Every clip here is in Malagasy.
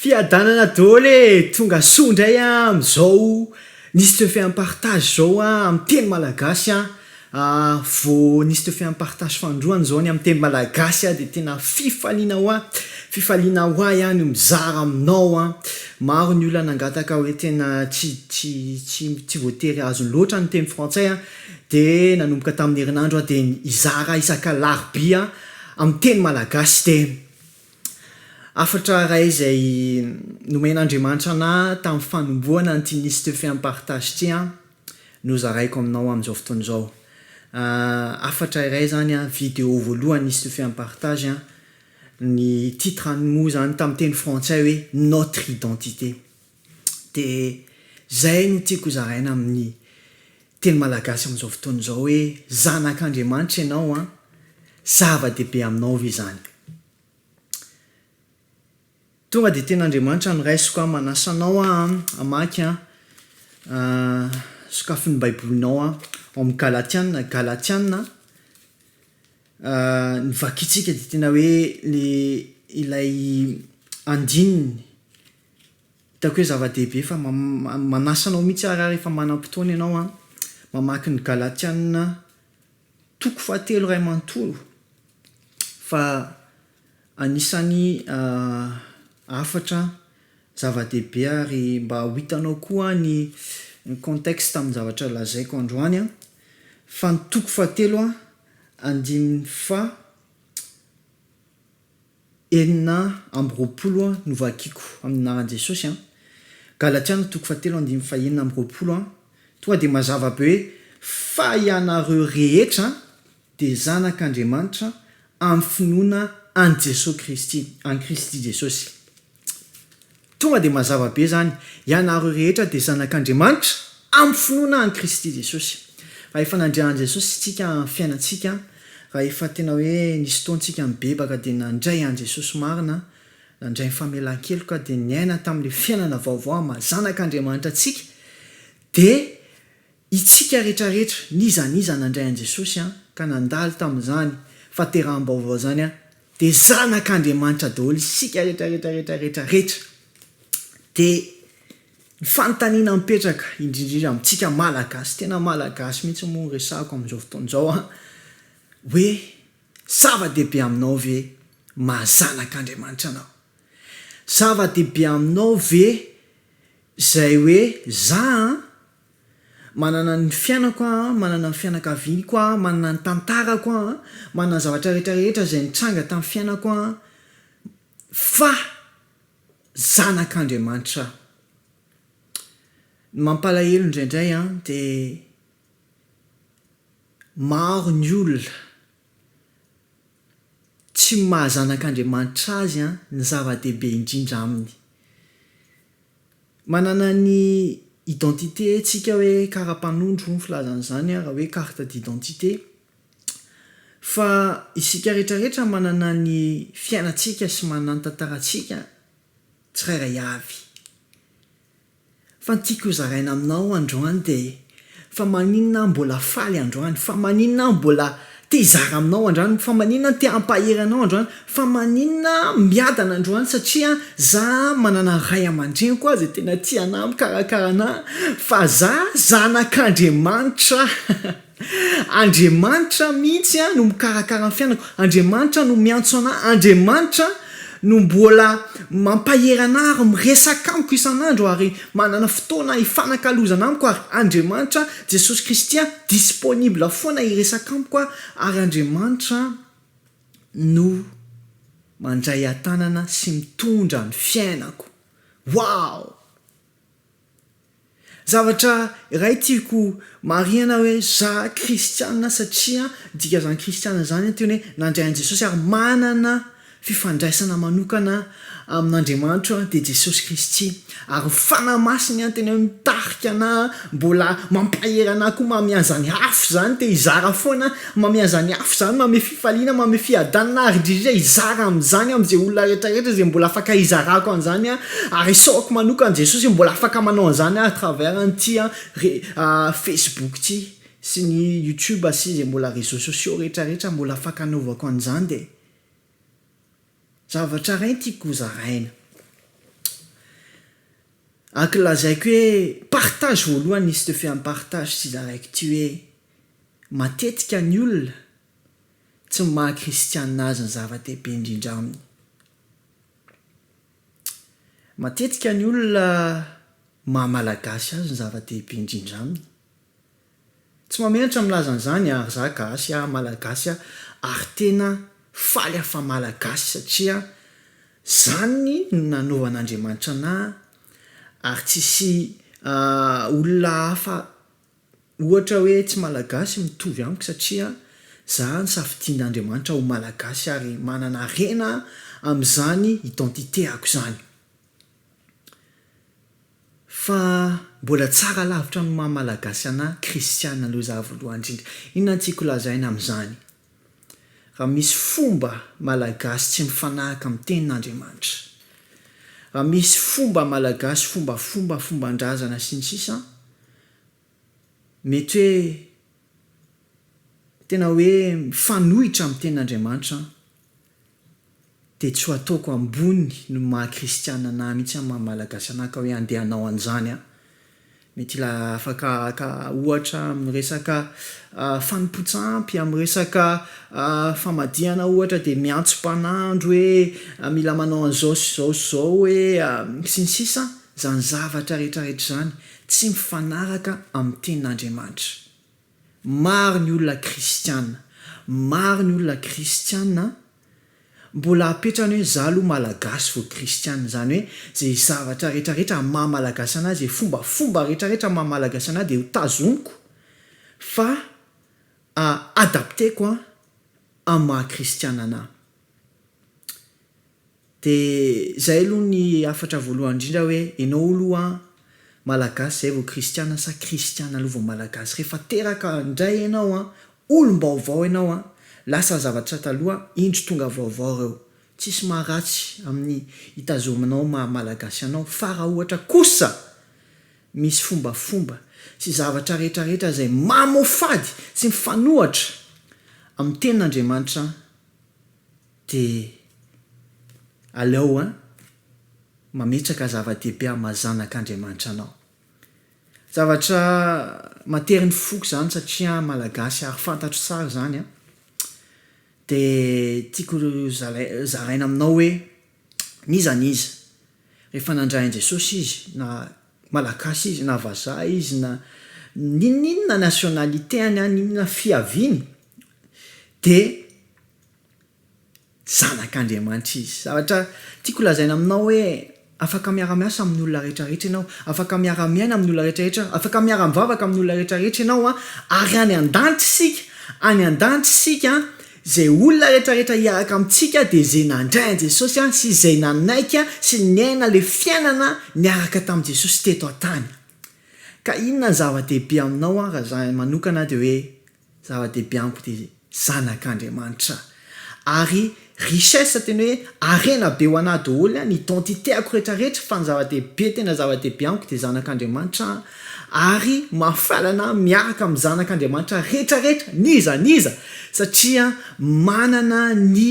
Fiadanana dôly e! Tonga soa ndray a amzao nisy le fait en partage zao a am teny malagasy a, vao nisy le fait en partage fanindroany zao ny am teny malagasy a de tena fifaliana hoa, fifaliana hoa iah no mizara aminao a, maro ny olona nangataka hoe tena tsy tsy tsy tsy voatery azony loatra ny teny frantsay a, de nanomboka tamin'ny herinandro aho de hizara isak'alarobia am teny malagasy de. Hafatra iray izay nomen'Andriamanitra anah tamin'ny fanombohana an'ity Niste Femme Partage ity an, no zaraiko aminao amin'izao fotoana izao. Hafatra iray izany an, video voalohany Niste Femme Partage an, ny titre-ny moa izany tamin'ny teny frantsay hoe Notre Identité. de zay no tiako zaraina amin'ny teny malagasy amin'izao fotoana izao hoe zanak'Andriamanitra ianao an, zava-dehibe aminao ve izany? Tonga de tenin'Andriamanitra no raisiko an, manasa anao aho an hamaky an sokafy ny baibolinao an ao amin'ny galatiana, galatiana ny vakintsika de tena hoe le ilay andininy, Hitako hoe zava-dehibe fa manasa anao mihitsy aho raha rehefa manam-potoana ianao an, mamaky ny Galatiana toko fahatelo iray manontolo fa anisan'ny hafatra zava-dehibe ary mba ho hitanao koa ny contexte amin'ny zavatra lazaiko androany an, fa ny toko fahatelo an, andininy fa. enina amby roapolo no vakiko amin'ny anaran'i Jesosy an! Galatiana toko fahatelo andininy fahenina amby roapolo an! Tonga dia mazava be hoe fa ianareo rehetra dia zanak'Andriamanitra amin'ny finoana an'i Jesosy Kristy, an'i Kristy Jesosy. Tonga dia mazava be izany, ianareo rehetra dia zanak'Andriamanitra amin'ny finoana an'i Kristy Jesosy. Raha efa nandre an'i Jesosy isika amin'ny fiainantsika, raha efa tena hoe nisy fotoantsika nibebaka dia nandray an'i Jesosy marina, nandray ny famelan-keloka dia niaina tamin'ilay fiainana vaovao maha zanak'Andriamanitra antsika dia Itsika retraretra n'iza n'iza nandray an'i Jesosy an ka nandalo tamin'izany fateraham-baovao izany an dia zanak'Andriamanitra daholo isika retraretra retraretra retra dia ny fanontaniana mipetraka indrindrindra amintsika Malagasy tena Malagasy mihitsy moa no resahako amin'izao fotoana izao an hoe zava-dehibe aminao ve maha zanak'Andriamanitra anao? Zava-dehibe aminao ve izay hoe za an Manana ny fiainako aho, manana ny fianakaviako aho, manana ny tantarako aho, manana ny zavatra rehetra rehetra izay nitranga tamin'ny fiainako aho, fa zanak'Andriamanitra aho. Ny mampalahelo indraindray an, dia maro ny olona tsy maha zanak'Andriamanitra azy ny zava-dehibe indrindra aminy. Manana ny identité tsika hoe karapanondro hoy ny filazana izany raha hoe carte d'identité fa isika rehetra rehetra manana ny fiainantsika sy manana ny tantarantsika tsirairay avy fa ny tiako hozaraina aminao androany dia Fa maninona aho mbola faly androany? Fa maninona aho mbola te hizara aminao androany? Fa maninona aho te hampahery anao androany? Fa maninona aho miadana androany? Satria za manana ray aman-dreniko izay tena tia anahy, mikarakara anahy, fa za zanak'Andriamanitra. Andriamanitra mihitsy no mikarakara ny fiainako, Andriamanitra no miantso anahy, Andriamanitra no mbola mampahery anahy ary miresaka amiko isan'andro ary Manana fotoana hifanakalozana amiko ary Andriamanitra Jesosy Kristy an, disponible foana hiresaka amiko an, ary Andriamanitra no mandray an-tanana sy mitondra ny fiainako. Wow! Zavatra iray tiako marihana hoe za kristiana satria dikazany kristiana zany an teny hoe nandray an'i Jesosy ary manana Fifandraisana manokana amin'Andriamanitra dia Jesosy Kristy ary ny Fanahy Masiny an tena mitarika ana mbola mampahery ana koa mamiazany afo izany te hizara foana mamiazany afo izany mame fifaliana mame fiadanana ary indridrindra hizara amin'izany amin'izay olona retraretra izay mbola afaka hizarako an'izany an ary isaorako manokana Jesosy hoe mbola afaka manao an'izany à travers an'ity an re facebook ity sy ny youtube sy izay mbola réseaux sociaux retraretra mbola afaka anaovako an'izany dia Zavatra iray no tiako hozaraina. Ak lazaiko hoe partage voalohany nisy teo f'efa mi-partage sy zaraiko ity hoe matetika ny olona tsy ny maha kristiana azy no zava-dehibe indrindra aminy. Matetika ny olona maha malagasy azy no zava-dehibe indrindra aminy. Tsy mamenatra milaza an'izany ary za gasy a, malagasy a, ary tena faly aho fa malagasy satria zany no nanovan'Andriamanitra anah ary tsisy olona hafa ohatra hoe tsy malagasy mitovy amiko satria za nosafidian'Andriamanitra ho malagasy ary manana harena amin'izany identité-ako izany. Fa mbola tsara lavitra amin'ny maha Malagasy anà Kristiana aloha izaho voalohany indrindra. Inona no tiako lazaina amin'izany? Raha misy fomba Malagasy tsy mifanaraka amin'ny Tenin'Andriamanitra, raha misy fomba Malagasy fombafomba, fomban-drazana sy ny sisa, Mety hoe tena hoe mifanohitra amin'ny tenin'Andriamanitra an, dia tsy ho ataoko ambony noho ny maha kristiana anah mihitsy an maha malagasy anah ka hoe andeha hanao an'izany an. Mety hila afaka haka ohatra amin'ny resaka fanompoan-tsampy, amin'ny resaka famadihana ohatra dia miantso mpanandro hoe mila manao an'izao sy izao sy izao hoe sy ny sisa an, izany zavatra rehetra rehetra izany. tsy mifanaraka amin'ny tenin'Andriamanitra. Maro ny olona kristiana, maro ny olona kristiana an! Mbola apetrany hoe za aloha malagasy vao kristiana, izany hoe izay zavatra rehetrarehetra maha malagasy anah, izay fombafomba rehetrarehetra maha malagasy anah dia ho tazoniko fa adapteko amin'ny maha kristiana anah. De zay aloha ny hafatra voalohany indrindra hoe enao oloha malagasy zay vao kristiana sa kristiana aloha vao malagasy? Rehefa teraka indray enao an, olom-baovao enao an, lasa ny zavatra taloha, indro tonga vaovao reo. Tsisy maha ratsy amin'ny itazominao maha malagasy anao fa raha ohatra kosa misy fombafomba sy zavatra rehetra rehetra zay mamoafady sy mifanohatra amin'ny tenin'Andriamanitra Dia aleo an, mametraka zava-dehibe amin'ny maha zanak'Andriamanitra anao. Zavatra matery ny foko izany satria an, Malagasy ary fantatro tsara izany an. Dia tiako zalai- zaraina aminao hoe n'iza n'iza, rehefa nandray an'i Jesosy izy, na Malagasy izy, na vazaha izy, na n'inon'inona nationalité-ny, n'inona fiaviany, dia. Zanak'Andriamanitra izy. Zavatra tiako lazaina aminao hoe afaka miara-miasa amin'ny olona rehetrarehetra ianao, afaka miara-miaina amin'ny olona rehetrarehetra, afaka miara-mivavaka amin'ny olona rehetrarehetra ianao an, ary any an-danitra isika, any an-danitra isika an, izay olona rehetrarehetra hiaraka amintsika dia izay nandray an'i Jesosy an, sy izay nanaiky an, sy niaina ilay fiainana niaraka tamin'i Jesosy teto an-tany an. Ka inona no zava-dehibe aminao an, raha izaho manokana dia hoe Zava-dehibe amiko dia zanak'Andriamanitra ary richesse tena hoe harena be ho anah doholy ny identité-ako retraretra fa ny zava-dehibe tena zava-dehibe amiko dia zanak'Andriamanitra ary mahafaly anah miaraka amin'ny zanak'Andriamanitra retraretra n'iza n'iza satria manana ny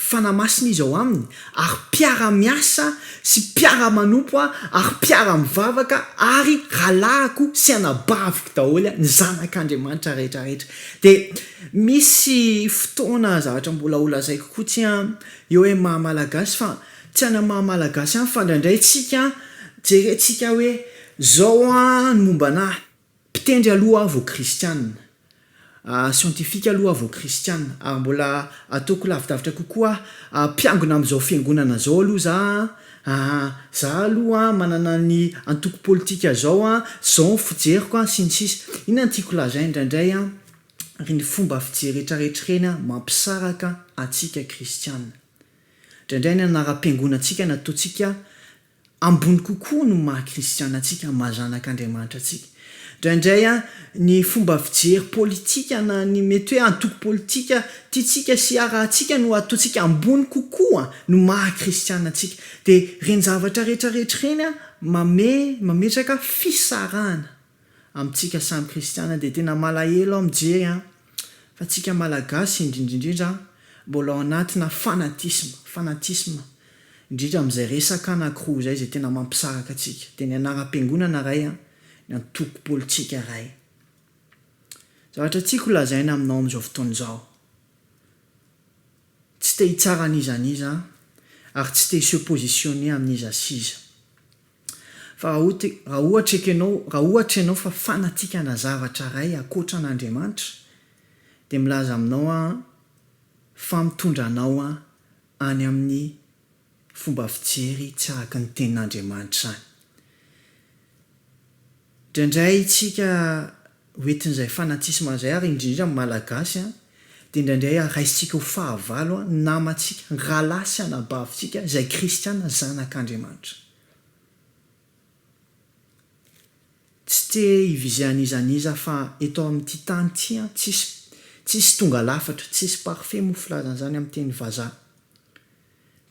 Fanahy Masina izy ao aminy, ary mpiara-miasa sy mpiara-manompo ary mpiara-mivavaka ary rahalahiko sy anabaviko daholo ny zanak'Andriamanitra rehetra rehetra. Dia misy fotoana zavatra mbola ho lazaiko koa tsy an, eo am maha Malagasy fa tsy any am maha Malagasy ihany fa indraindray tsika jerentsika hoe zao an ny momba anah, Mpitendry aloha aho vao kristianina. Siantifika aloha aho vao kristianina, ary mbola ataoko lavidavitra kokoa aho. Mpiangona amin'izao fiangonana izao aloha za an! Za aloha an, manana ny antoko politika izao an, izao ny fijeriko an, sy ny sisa Inona no tiako lazaina indraindray an, ireny fomba fijery retraretra ireny an, mampisaraka antsika kristianina. Indraindray ny anaram-piangonantsika nataontsika ambony kokoa no maha kristiana antsika, ny maha zanak' Andriamanitra antsika. Indraindray ny fomba fijery politika na ny mety hoe antoko politika tiantsika sy harahantsika no ataontsika ambony kokoa no maha kristiana antsika. Dia ireny zavatra rehetra rehetra ireny mametraka fisarahana. amintsika samy kristiana dia tena malahelo aho mijery an, fa tsika malagasy indrindrindrindra an, mbola ao anatina fanatisme, fanatisme, indrindra amin'izay resaka an accro izay izay tena mampisaraka antsika, dia ny anaram-piangonana ray an, ny antoko politsika ray. Zavatra tiako ho lazaina aminao amin'izao fotoana izao, tsy te hitsara an'iza n'iza an, ary tsy te hi se positionner amin'iza s'iza, Fa raha ohatra, raha ohatra ekenao, raha ohatra ianao fa fanatikana zavatra iray ankoatra an' Andriamanitra, dia milaza aminao aho fa mitondra anao any amin'ny fomba fijery tsy araka ny tenin' Andriamanitra izany. Indraindray isika ho entin'izay fanatisma izay ary indrindra ny Malagasy dia indraindray raisintsika ho fahavalo ny namantsika, ny rahalahy sy anabavintsika izay kristiana zanak'Andriamanitra. Tsy te hivize an'iza an'iza fa eto amin'ity tany ity tsisy tsisy tonga lafatra, tsisy parfait moa filazana izany amin'ny teny vazaha.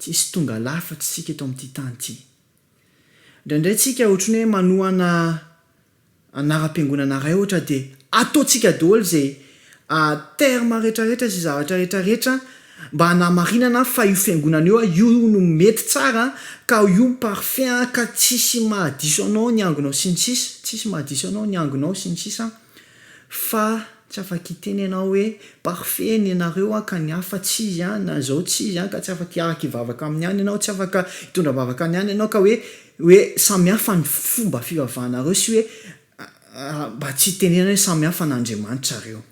Tsisy tonga lafatra isika eto amin'ity tany ity. Indraindray tsika ohatry ny hoe manohana anaram-piangonana iray ohatra dia ataontsika daholo izay terme rehetrarehetra sy zavatra rehetrarehetra mba hanamarinana fa io fiangonana io io no mety tsara ka io no parfait ka tsisy mahadiso anao ny angonao sy ny sisa, tsisy mahadiso anao ny angonao sy ny sisa. Fa tsy afa-kiteny ianao hoe, Parfait ny anareo an, ka ny hafa tsy izy an, na izao tsy izy an, ka tsy afa-kiaraka-hivavaka aminy ihany ianao, tsy afaka hitondra vavaka any ihany ianao, ka hoe, hoe samy hafa ny fomba fivavahanareo, sy hoe mba tsy hitenena hoe samy hafa an' Andriamanitra ireo.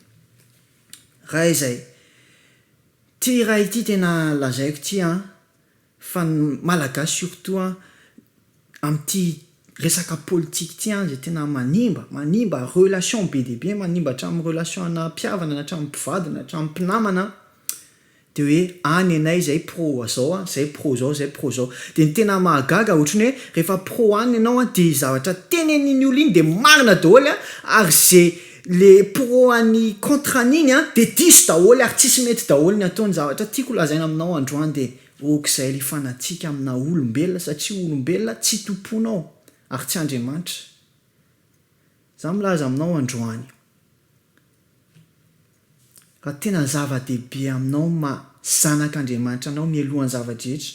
Raha izay. Ity iray ity tena lazaiko ity an, Fa ny Malagasy surtout an, amin'ity resaka politique ity an izay tena manimba, manimba relation be dia be, manimba hatramin'ny relation ana mpihavana na hatramin'ny mpivady na hatramin'ny mpinamana an, dia hoe any ianay izay pro izao an, izay pro izao, izay pro izao. Dia ny tena mahagaga ohatran'ny hoe rehefa pro any ianao an dia ny zavatra tenenin'iny olona iny dia marina daholo an, ary izay Le pro an'i contre an'iny an de diso daholo ary tsisy mety daholo ny ataony zavatra tiako lazaina aminao androany de okizay ry fanatsika amina olombelona satria olombelona tsy tomponao ary tsy andriamanitra za milaza aminao androany Raha tena zava-dehibe aminao ny maha zanak' Andriamanitra anao mialoha ny zava-drehetra,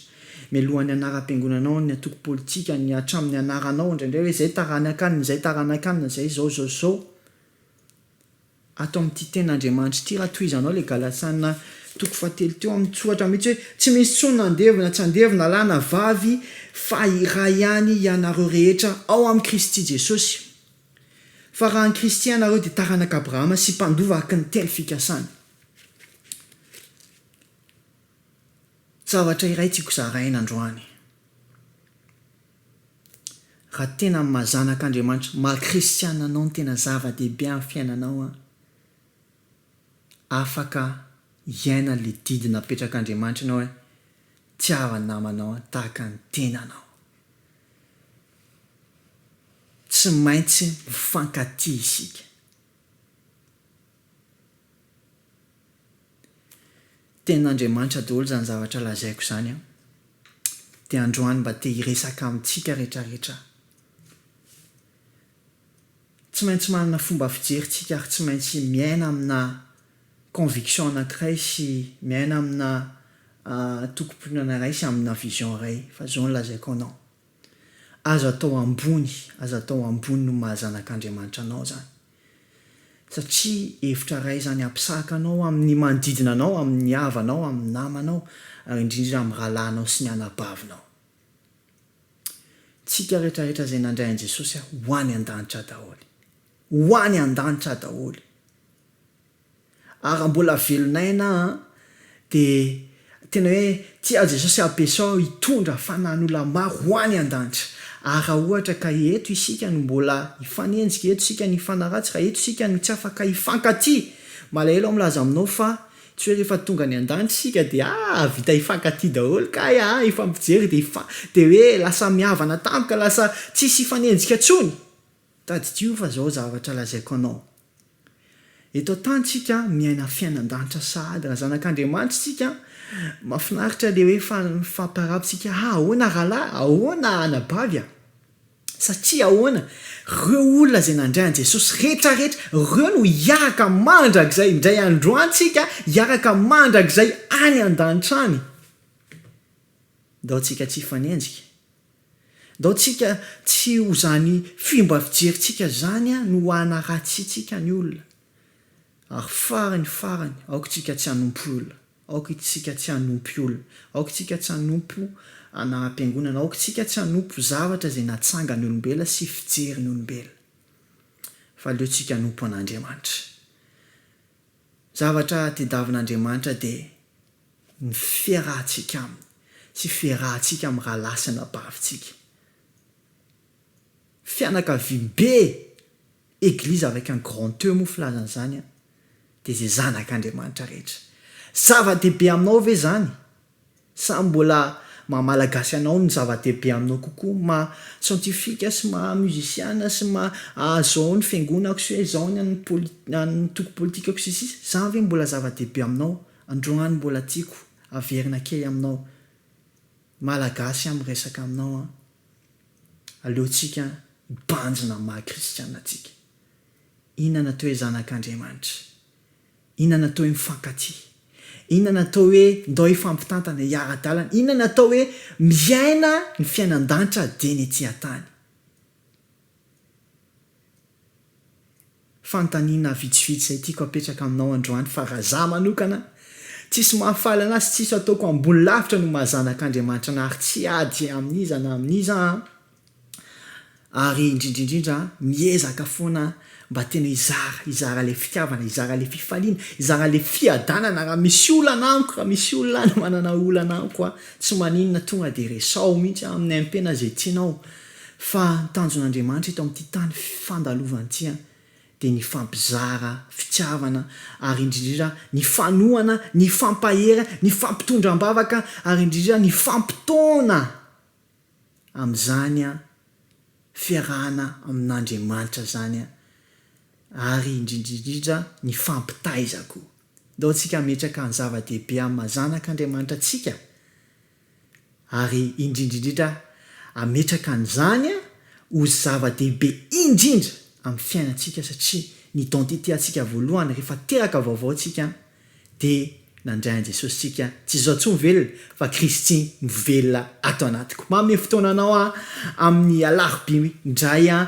mialoha ny anaram-piangonanao, ny antoko politika, ny hatramin' ny anaranao indraindray hoe izay taranak' an' izay taranak' an' izay izao izao izao, ato amin' ity Tenin' Andriamanitra ity raha tohizanao ilay Galasiana toko fahatelo teo amin' ny tsoratra mihitsy hoe tsy misy intsony na andevo na tsy andevo na lahy na vavy fa iray ihany hianareo rehetra ao amin' i Kristy Jesosy. Fa raha ny kristianareo dia taranaka Abrahama sy mpandova araka ny telo fikasany. Zavatra iray tiako zaraina androany. Raha tena amin'ny maha zanak'Andriamanitra, maha kristiana anao no tena zava-dehibe amin'ny fiainanao an, afaka hiaina ilay didy napetrak'Andriamanitra ianao hoe, Tiava ny namanao tahaka ny tenanao. Tsy maintsy mifankatia isika. Tenin'Andriamanitra daholo izany zavatra lazaiko izany an! Dia androany mba te hiresaka amintsika rehetrarehetra aho. Tsy maintsy manana fomba fijery tsika ary tsy maintsy miaina amina conviction anankiray sy miaina amina tokim-pinoana iray sy amina vision iray fa izao no lazaiko anao. Aza atao ambony, aza atao ambony noho ny maha zanak'Andriamanitra anao izany. Satria hevitra iray izany hampisahaka anao amin'ny manodidina anao, amin'ny havanao, amin'ny namanao, ary indrindra indrindra amin'ny rahalahinao sy ny anabavinao. Tsika rehetrarehetra izay nandray an'i Jesosy ho any an-danitra daholo. Ho any an-danitra daholo. Ara mbola velon'aina an! de tena hoe tsy azy Jesosy abesao hitondra fanan'olona maro ho any andanitra ary raha ohatra ka eto isika no mbola hifanenjika eto isika no hifanaratsy raha eto isika no tsy afaka hifankatia malahelo aho milaza aminao fa tsy hoe rehefa tonga any andanitra isika de aa vita hifankatia daholo kay aa hifampijery de hifa de hoe lasa mihavana tampoka lasa tsisy hifanenjika tsony tadidio fa zao zavatra lazaiko anao Eto an-tany tsika miaina fiainan-danitra sahady raha zanak'Andriamanitra isika, mafinaritra le hoe faly mifampirahaba tsika ha ahoana rahalahy a, ahoana anabavy a, satria ahoana reo olona zay nandray an'i Jesosy rehetra rehetra reo no hiaraka mandrakizay indray androany tsika hiaraka mandrakizay any an-danitra any, ndao tsika tsy hifanenjika. Ndao tsika tsy ho zany fimba fijery tsika zany no hana ratsy tsika ny olona. Ary farany farany aoka tsika tsy hanompo olona, aoka tsika tsy hanompy olona, aoka tsika tsy hanompo ana mpiangonana, aoka tsika tsy hanompo zavatra izay natsangany olombela sy fijeriny olombelona. Fa aleo tsika hanompo an'Andriamanitra. Zavatra tedavin' Andriamanitra dia ny fiarahantsika aminy sy fiarahantsika amin'ny rahalahy sy anabavintsika. Fianakaviambe, Église avec un grand E moa filazana izany an, dia izay zanak'Andriamanitra rehetra. Zava-dehibe aminao ve izany? Sa mbola maha Malagasy anao no zava-dehibe aminao kokoa, maha scientifique sy maha musician sy maha izao ny fiangonako sy hoe izao ny an'ny antoko politikako sy ny sisa? Izany ve mbola zava-dehibe aminao? Androany mbola tiako averina kely aminao Malagasy aho miresaka aminao an! Aleontsika hibanjina amin'ny maha kristiana antsika. Inona natao hoe zanak'Andriamanitra? Inona natao hoe mifankatia? Inona natao hoe ndao hifampitantana, hiara-dalana? Inona natao hoe miaina ny fiainan-danitra dieny ety an-tany? Fanontaniana vitsivitsy izay tiako apetraka aminao androany fa raha za manokana tsisy mahafaly anahy sy tsisy ataoko ambony lavitra noho maha zanak'Andriamanitra anahy ary tsy ady amin'iza na amin'iza aho ary indrindrindrindra miezaka foana mba tena hizara hizara ilay fitiavana hizara ilay fifaliana hizara ilay fiadanana raha misy olana amiko raha misy olona any manana olana amiko aho tsy maninona tonga dia resaho mihitsy aho amin'ny aim-pena izay tianao Fa ny tanjon'Andriamanitra eto amin'ity tany fandalovany ity dia ny fampizara fitiavana ary indrindra ny fanohana, ny fampahery, ny fampitondra am-bavaka ary indrindra ny fampitaona amin'izany fiarahana amin'Andriamanitra izany ary indrindra indrindra ny fampitaiza koa. Ndao tsika hametraka ny zava-dehibe amin'ny maha zanak'Andriamanitra antsika. ary indrindra indrindra ametraka an'izany ho zava-dehibe indrindra amin'ny fiainantsika satria ny identité antsika voalohany rehefa teraka vaovao tsika dia nandray an'i Jesosy tsika tsy izaho intsony velona fa Kristy mivelona ato anatiko manome fotoana anao aho amin'ny alarobia indray aho